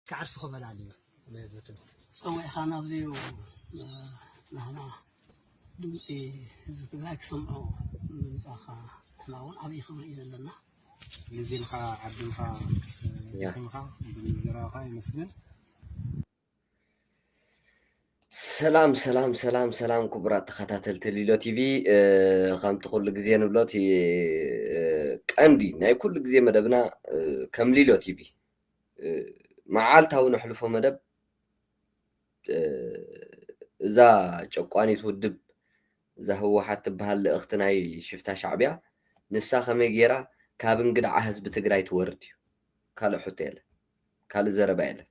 ክዓርሱ ክበላሉ እዩ ነዚ ትምህርቲ ፀዊዕኻ ናብዚ ናህና ድምፂ ህዝቢ ትግራይ ክሰምዑ ምምፃእኻ ንሕና እውን ዓብዪ ክብሪ እዩ ዘለና ግዜኻ ዓድምኻ ደኺምካ ብምዝራብካ የመስግን። ሰላም ሰላም ሰላም ሰላም ክቡራት ተኸታተልቲ ሊሎ ቲቪ ከምቲ ኩሉ ግዜ ንብሎ እቲ ቀንዲ ናይ ኩሉ ግዜ መደብና ከም ሊሎ ቲቪ መዓልታዊ ነሕልፎ መደብ እዛ ጨቋኒት ውድብ እዛ ህወሓት ትበሃል ልእኽቲ ናይ ሽፍታ ሻዕቢያ ንሳ ከመይ ገይራ ካብ እንግድዓ ህዝቢ ትግራይ ትወርድ እዩ ካልእ ሕቶ የለን ካልእ ዘረባ የለን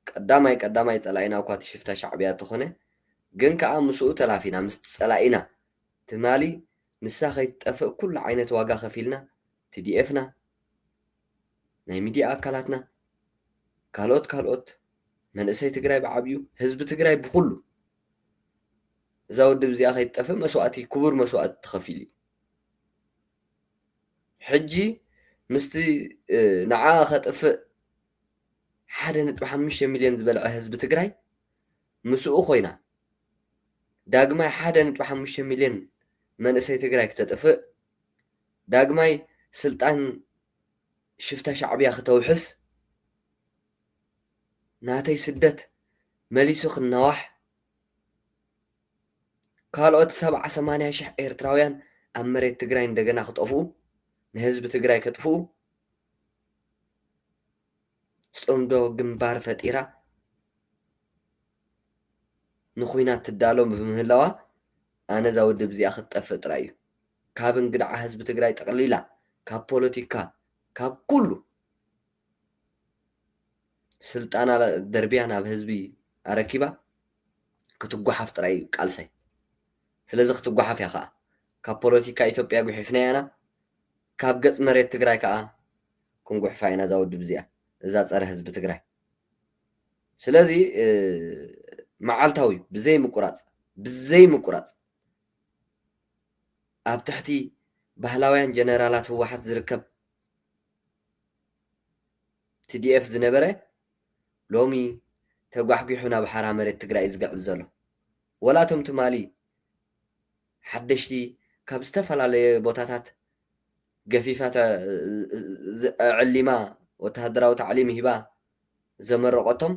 ቀዳማይ ቀዳማይ ጸላኢና እኳ እቲ ሽፍታ ሻዕብያ እተኾነ ግን ከኣ ምስኡ ተላፊና ምስ ጸላኢና ትማሊ ንሳ ከይትጠፍእ ኩሉ ዓይነት ዋጋ ከፊልና ቲዲኤፍና ናይ ሚድያ ኣካላትና ካልኦት ካልኦት መንእሰይ ትግራይ ብዓብዩ ህዝቢ ትግራይ ብኹሉ እዛ ውድብ እዚኣ ከይትጠፍእ መስዋእቲ ክቡር መስዋእቲ ተኸፊሉ እዩ። ሕጂ ምስቲ ንዓኣ ከጥፍእ ሓደ ነጥቢ ሓሙሽተ ሚልዮን ዝበልዐ ህዝቢ ትግራይ ምስኡ ኮይና ዳግማይ ሓደ ነጥቢ ሓሙሽተ ሚልዮን መንእሰይ ትግራይ ክተጥፍእ ዳግማይ ስልጣን ሽፍታ ሻዕብያ ክተውሕስ ናተይ ስደት መሊሱ ክናዋሕ ካልኦት ሰብዓ ሰማንያ ሽሕ ኤርትራውያን ኣብ መሬት ትግራይ እንደገና ክጠፍኡ ንህዝቢ ትግራይ ከጥፍኡ ጽምዶ ግንባር ፈጢራ ንኹናት ትዳሎ ብምህላዋ ኣነ እዛ ውድብ እዚኣ ክትጠፍእ ጥራይ እዩ ካብ እንግድዓ ህዝቢ ትግራይ ጠቕሊላ ካብ ፖለቲካ ካብ ኩሉ ስልጣና ደርቢያ ናብ ህዝቢ ኣረኪባ ክትጓሓፍ ጥራይ እዩ ቃልሰይ። ስለዚ ክትጓሓፍ እያ ከኣ። ካብ ፖለቲካ ኢትዮጵያ ጉሒፍናያ ኢና፣ ካብ ገጽ መሬት ትግራይ ከኣ ክንጉሕፋ ኢና እዛ ውድብ እዚኣ፣ እዛ ጸረ ህዝቢ ትግራይ። ስለዚ መዓልታዊ ብዘይ ምቁራጽ ብዘይ ምቁራጽ ኣብ ትሕቲ ባህላውያን ጀነራላት ህወሓት ዝርከብ ትዲኤፍ ዝነበረ ሎሚ ተጓሕጒሑ ናብ ሓራ መሬት ትግራይ እዩ ዝግዕዝ ዘሎ። ወላ እቶም ትማሊ ሓደሽቲ ካብ ዝተፈላለየ ቦታታት ገፊፋ ኣዐሊማ ወተሃደራዊ ታዕሊም ሂባ ዘመረቖቶም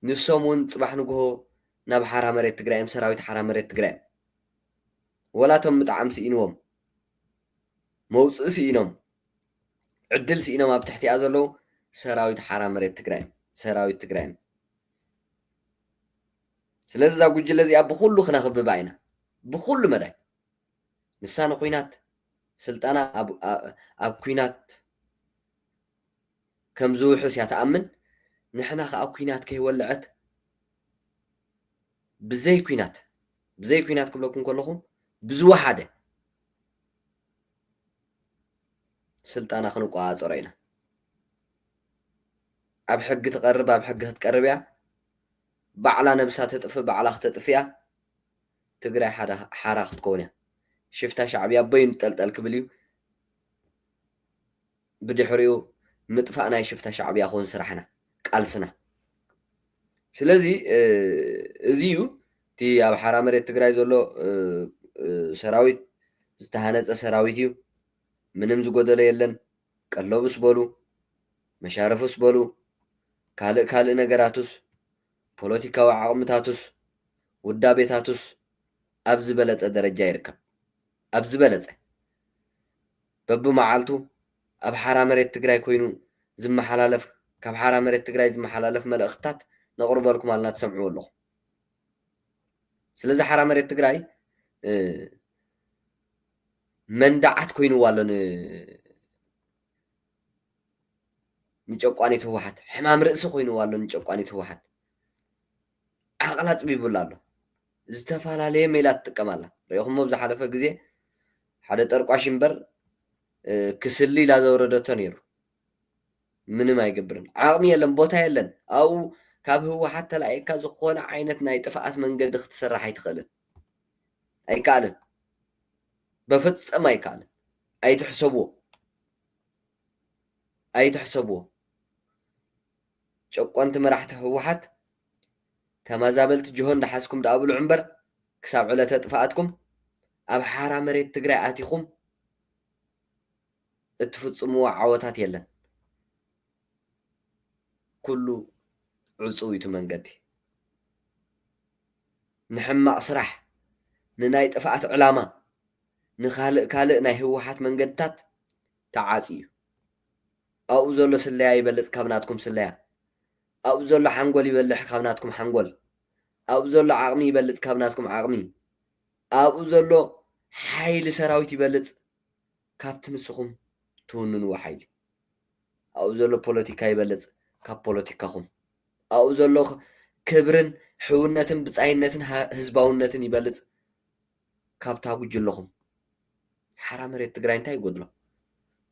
ንሶም እውን ፅባሕ ንጉሆ ናብ ሓራ መሬት ትግራይ እዮም፣ ሰራዊት ሓራ መሬት ትግራይ እዮም። ወላ እቶም ምጥዓም ስኢንዎም፣ መውፅኢ ስኢኖም፣ ዕድል ስኢኖም ኣብ ትሕቲኣ ዘለዉ ሰራዊት ሓራ መሬት ትግራይ ሰራዊት ትግራይ ስለዚ እዛ ጉጅለ እዚኣ ብኩሉ ክነኽብባ ኢና ብኩሉ መዳይ ንሳ ንኩናት ስልጣና ኣብ ኩናት ከም ዝውሕስ እያ ትኣምን ንሕና ከዓ ኩናት ከይወልዐት ብዘይ ኩናት ብዘይ ኩናት ክብለኩም ከለኹ ብዝወሓደ ስልጣና ክንቆፃፀሮ ኢና። ኣብ ሕጊ ትቐርብ ኣብ ሕጊ ክትቀርብ እያ። ባዕላ ነብሳ ተጥፍ ባዕላ ክተጥፍ እያ። ትግራይ ሓራ ክትከውን እያ። ሽፍታ ሻዕብያ ኣቦይ ይንጠልጠል ክብል እዩ። ብድሕሪኡ ምጥፋእ ናይ ሽፍታ ሻዕብያ ክውን ስራሕና ቃልስና ስለዚ እዚ እዩ እቲ ኣብ ሓራ መሬት ትግራይ ዘሎ ሰራዊት ዝተሃነፀ ሰራዊት እዩ ምንም ዝጎደለ የለን ቀለቡስ በሉ መሻርፉስ በሉ ካልእ ካልእ ነገራቱስ ፖለቲካዊ ዓቕምታቱስ ውዳቤታቱስ ኣብ ዝበለፀ ደረጃ ይርከብ ኣብ ዝበለፀ በብመዓልቱ ኣብ ሓራ መሬት ትግራይ ኮይኑ ዝመሓላለፍ ካብ ሓራ መሬት ትግራይ ዝመሓላለፍ መልእኽትታት ነቕርበልኩም ኣልና ትሰምዕዎ ኣለኹም። ስለዚ ሓራ መሬት ትግራይ መንዳዓት ኮይንዋ ኣሎ ንጨቋኒት ህወሓት ሕማም ርእሲ ኮይንዋ ኣሎ ንጨቋኒት ህወሓት ዓቕላ ኣፅቢቡላ ኣሎ። ዝተፈላለየ ሜላ ትጥቀም ኣላ ሪኢኹሞ ብዝሓለፈ ግዜ ሓደ ጠርቋሽ እምበር ክስሊ ኢላ ዘውረደቶ ነይሩ ምንም ኣይገብርን ዓቕሚ የለን ቦታ የለን ኣብኡ ካብ ህወሓት ተላኢካ ዝኾነ ዓይነት ናይ ጥፍኣት መንገዲ ክትስራሕ ኣይትኽእልን ኣይከኣልን በፈፀም ኣይከኣልን ኣይትሕሰብዎ ኣይትሕሰብዎ ጨቆንቲ መራሕቲ ህወሓት ተመዛበልቲ ጅሆ እንዳሓዝኩም ድኣ ብልዑ እምበር ክሳብ ዕለተ ጥፍኣትኩም ኣብ ሓራ መሬት ትግራይ ኣቲኹም እትፍፅምዎ ዓወታት የለን። ኩሉ ዕፁው እዩ እቲ መንገዲ። ንሕማቕ ስራሕ፣ ንናይ ጥፍኣት ዕላማ፣ ንካልእ ካልእ ናይ ህወሓት መንገድታት ተዓፅዩ እዩ። ኣብኡ ዘሎ ስለያ ይበልፅ ካብ ናትኩም ስለያ። ኣብኡ ዘሎ ሓንጎል ይበልሕ ካብ ናትኩም ሓንጎል። ኣብኡ ዘሎ ዓቕሚ ይበልጽ ካብ ናትኩም ዓቕሚ። ኣብኡ ዘሎ ሓይሊ ሰራዊት ይበልጽ ካብቲ ንስኹም ትውንንዎ ሓይሊ። ኣብኡ ዘሎ ፖለቲካ ይበልጽ ካብ ፖለቲካኹም። ኣብኡ ዘሎ ክብርን ሕውነትን ብጻይነትን ህዝባውነትን ይበልጽ ካብታ ጉጅለኹም። ሓራ መሬት ትግራይ እንታይ ይጎድሎ?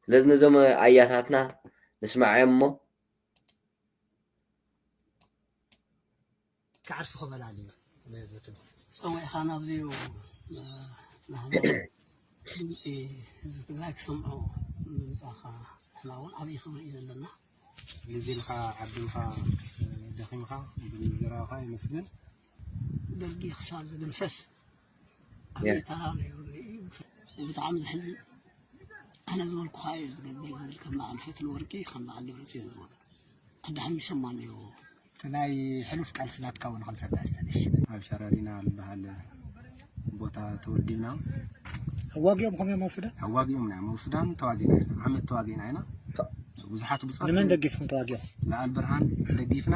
ስለዚ ነዞም ኣያታትና ንስማዕዮም እሞ ክዓርሱ ክበላልዩ ዝትም ፀዊዕኻ ናብዚኡ ናህና ድምፂ ህዝቢ ትግራይ ክሰምዑ ምምፃእኻ ንሕና እውን ዓብዪ ክብሪ እዩ ዘለና ግዜ ኢልካ ዓዲምካ ደኺምካ ብምዝራብካ ይመስገን ደርጊ ክሳብ ዝድምሰስ ኣብዘይ ተራ ነይሩኒ እዩ ብጣዕሚ ዘሕዝን ኣነ ዝበልኩኻ እዩ ዝገብር ዝብል ከም በዓል ፈትሊ ወርቂ ከም በዓል ደብረፅዮን ዝበሉ ኣዳሓሚሶማ እኒኦ እቲ ናይ ሕሉፍ ቃልሲ ናትካ እውን ክንሰምዕ ዝተነሽ ኣብ ሸረሪና ዝበሃል ቦታ ተወዲብና ኣዋጊኦም ኮም እዮም መውስዳ ኣዋጊኦም ናይ መውስዳን ተዋጊና ኢና ዓመት ተዋጊና ኢና ብዙሓት ብፁዓት ንመን ደጊፍኩም ተዋጊኦም ንኣል ብርሃን ደጊፍና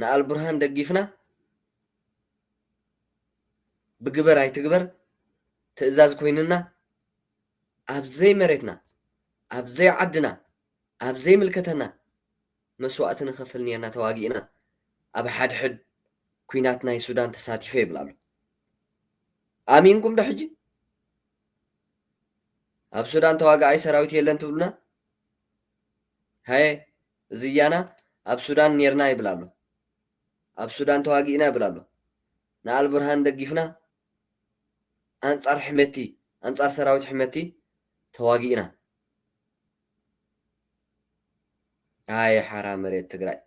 ንኣልቡርሃን ደጊፍና ብግበር ኣይትግበር ትእዛዝ ኮይንና ኣብ ዘይመሬትና ኣብ ዘይዓድና ኣብ ዘይምልከተና መስዋእቲ ንኸፍል ኔርና ተዋጊእና ኣብ ሓድሕድ ኩናት ናይ ሱዳን ተሳቲፈ ይብል ኣሎ ኣሚንኩም ዶ ሕጂ ኣብ ሱዳን ተዋጋኣይ ሰራዊት የለን ትብሉና ሃየ እዚ እያና ኣብ ሱዳን ኔርና ይብል ኣሎ ኣብ ሱዳን ተዋጊእና ይብል ኣሎ ንኣልቡርሃን ደጊፍና ኣንጻር ሕመቲ ኣንጻር ሰራዊት ሕመቲ ተዋጊእና ኣየ ሓራ መሬት ትግራይ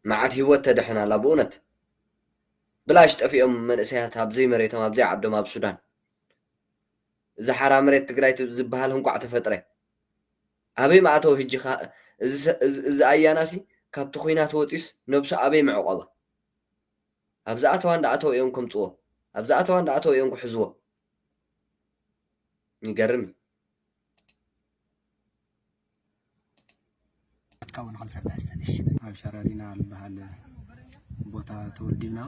መዓት ህይወት ተድሕን ኣላ ብእውነት ብላሽ ጠፊኦም መንእሰያት ኣብዘይ መሬቶም ኣብዘይ ዓዶም ኣብ ሱዳን እዚ ሓራ መሬት ትግራይ ዝብሃል እንቋዕ ተፈጥረ። ኣበይ ምኣተወ ህጂ ከ እዚ ኣያናሲ ካብቲ ኩናት ወጽዩስ ነብሱ ኣበይ ምዕቆባ። ኣብ ዝኣተዋ እንዳኣተው እዮም ከምጽዎ ኣብ ዝኣተዋ እንዳኣተው እዮም ክሕዝዎ። ይገርም እዩ። ካብኡን ኸልሰ ብሕስተንሽ ኣብ ሸረሪና ዝበሃል ቦታ ተወዲብና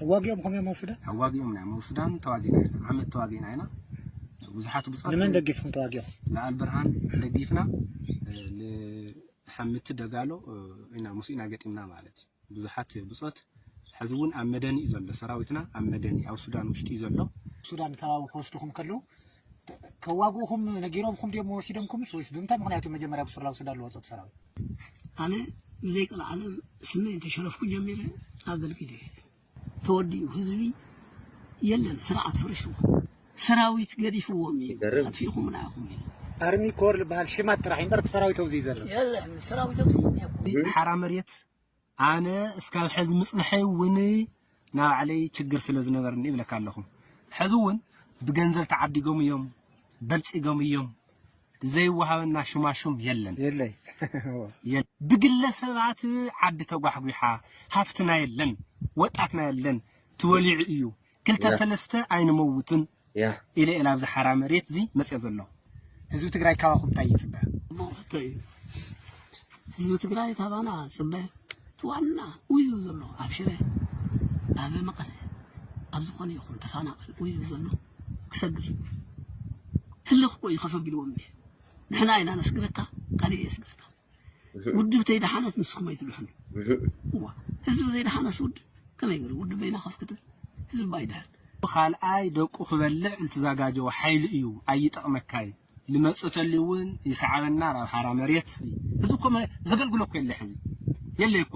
ኣዋጊኦም ከመይ መውስዳ ኣዋጊኦም ናይ መውስዳን ተዋጊና ኢና ዓመት ተዋጊና ኢና ብዙሓት ብጾት ንመን ደጊፍኩም ተዋጊኦም ንኣልብርሃን ደጊፍና ንሓምቲ ደጋሎ ኢና ምስ ኢና ገጢምና ማለት እዩ ብዙሓት ብጾት ሐዚ እውን ኣብ መደኒ እዩ ዘሎ ሰራዊትና ኣብ መደኒ ኣብ ሱዳን ውሽጢ እዩ ዘሎ። ሱዳን ከባቢ ክወስድኹም ከለው ከዋግኡኹም ነጊሮምኩም ድዮም ወሲዶምኩምስ ወይስ ብምንታይ ምኽንያት እዮም መጀመርያ ብሱር ላብ ሱዳን ዝወጸቱ ሰራዊት? ኣነ ብዘይ ቀልዓለም ስመይ እንተሸረፍኩ ጀሚረ ኣገልጊለ እየ ተወዲኡ ህዝቢ የለን ስርዓት ፈሪሱ። ሰራዊት ገዲፍዎም እዩ ይገርም። ኣጥፊእኹምና ኢኹም ኢሉ ኣርሚ ኮር ዝበሃል ሽማት ጥራሕ እዩ እምበር እቲ ሰራዊት ኣብዚ ይዘርብ የለን ሰራዊት ኣብዚ እኒሀኩም ሓራ መሬት ኣነ እስካብ ሕዚ ምፅንሐይ እውን ናይ ባዕለይ ችግር ስለ ዝነበርኒ ይብለካ ኣለኹ ሕዚ እውን ብገንዘብ ተዓዲጎም እዮም በልፂጎም እዮም ዘይወሃበና ሹማሹም የለን የለይ የለን። ብግለሰባት ዓዲ ተጓሕጒሓ ሃፍትና የለን ወጣትና የለን ተወሊዑ እዩ ክልተ ያ ሰለስተ ኣይንመውትን ያ ኢለ እየ ናብዚ ሓራ መሬት እዚ መፅኦ ዘለኹ። ህዝቢ ትግራይ ካባኹም እንታይ ይፅበ? መውእቶ እዩ ህዝቢ ትግራይ ካባና ዝፅበ እቲ ዋና ኡይ ዝብል ዘሎ ኣብ ሽረ ኣብ መቐለ ኣብ ዝኾነ ይኹን ተፋናቐል ኡይ ዝብል ዘሎ ክሰግር ህልኽ እኮ እዩ ከፍ ኣቢልዎም እኒሀ ንሕና ኢና ነስግረካ ካሊእ የስግረካ ውድብተይ ደሓነት ንስኹም ኣይትድሕኑ እዋ ህዝቢ ዘይደሓነስ ውድብ ከመይ ገይሩ ውድብ በይና ከፍ ክትብል ህዝቢ ባይድሕን ብካልኣይ ደቁ ክበልዕ እንትዛጋጀወ ሓይሊ እዩ ኣይጠቅመካይ ልመፅተሊ እውን ይሰዓበና ናብ ሓራ መሬት እዚ እኮ ዘገልግሎ እኮ የለ ሕዚ የለይ እኮ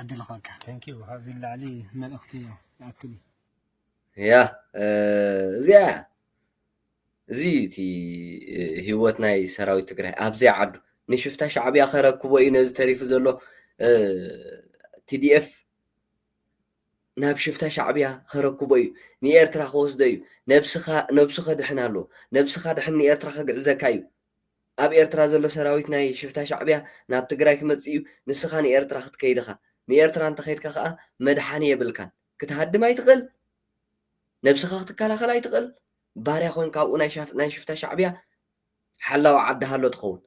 ዕድል ክበካ ተንኪ ካብዚ ንላዕሊ መልእኽቲ ይኣክል እዩ ያ እዚኣ እያ እዚ እዩ እቲ ህይወት ናይ ሰራዊት ትግራይ ኣብዘይ ዓዱ ንሽፍታ ሻዕብያ ከረክቦ እዩ ነዚ ተሪፉ ዘሎ ቲዲኤፍ ናብ ሽፍታ ሻዕብያ ከረክቦ እዩ ንኤርትራ ከወስዶ እዩ ነብስኻ ነብሱ ከድሕን ኣለዎ ነብስኻ ድሕን ንኤርትራ ከግዕዘካ እዩ ኣብ ኤርትራ ዘሎ ሰራዊት ናይ ሽፍታ ሻዕብያ ናብ ትግራይ ክመጽእ እዩ ንስኻ ንኤርትራ ክትከይድ እኻ ንኤርትራ እንተኸድካ ከኣ መድሓኒ የብልካን ክትሃድም ኣይትኽእል ነብስኻ ክትከላኸል ኣይትኽእል ባርያ ኮንካ ኣብኡ ናይ ሽፍታ ሻዕብያ ሓላዊ ዓዲ ሃሎ ትኸውን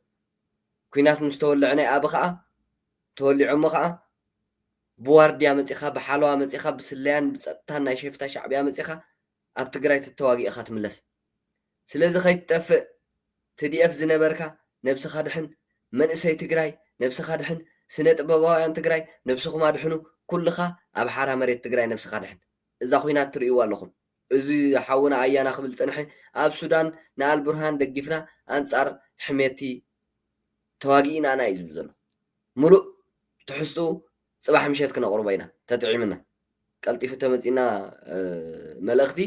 ኩናት ምስ ተወልዐ ናይ ኣብ ከኣ ተወሊዖሞ ከኣ ብዋርድያ መጺኻ ብሓለዋ መጺኻ ብስለያን ብጸጥታን ናይ ሽፍታ ሻዕብያ መጺኻ ኣብ ትግራይ ተተዋጊእኻ ትምለስ ስለዚ ከይትጠፍእ ትዲኤፍ ዝነበርካ ነብስካ ድሕን መንእሰይ ትግራይ ነብስካ ድሕን ስነ ጥበባውያን ትግራይ ነብስኩም ኣድሕኑ ኩልካ ኣብ ሓራ መሬት ትግራይ ነብስካ ድሕን እዛ ኩናት ትርእይዋ ኣለኩም እዚ ሓውና ኣያና ክብል ዝጸንሐ ኣብ ሱዳን ንኣልቡርሃን ደጊፍና ኣንጻር ሕሜቲ ተዋጊእና ኢና እዩ ዝብል ዘሎ ሙሉእ ትሕዝትኡ ጽባሕ ምሸት ክነቕርቦ ኢና ተጥዒምና ቀልጢፉ ተመጺና መልእኽቲ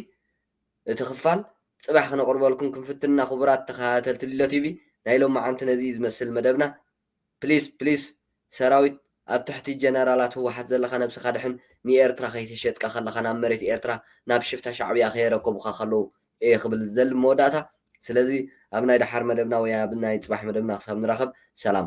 እቲ ክፋል ጽባሕ ክነቅርበልኩም ክንፍትን እና ክቡራት ተከታተልቲ ሊሎ ቲቪ ናይ ሎማዓንቲ ነዚ እዩ ዝመስል መደብና ፕሊስ ፕሊስ ሰራዊት ኣብ ትሕቲ ጀነራላት ህዋሓት ዘለካ ነብስካ ድሕን ንኤርትራ ከይተሸጥካ ከለካ ናብ መሬት ኤርትራ ናብ ሽፍታ ሻዕብያ ከየረከቡካ ከለዉ እየ ክብል ዝደሊ ብመወዳእታ ስለዚ ኣብ ናይ ዳሓር መደብና ወይ ኣብ ናይ ጽባሕ መደብና ክሳብ ንራከብ ሰላም።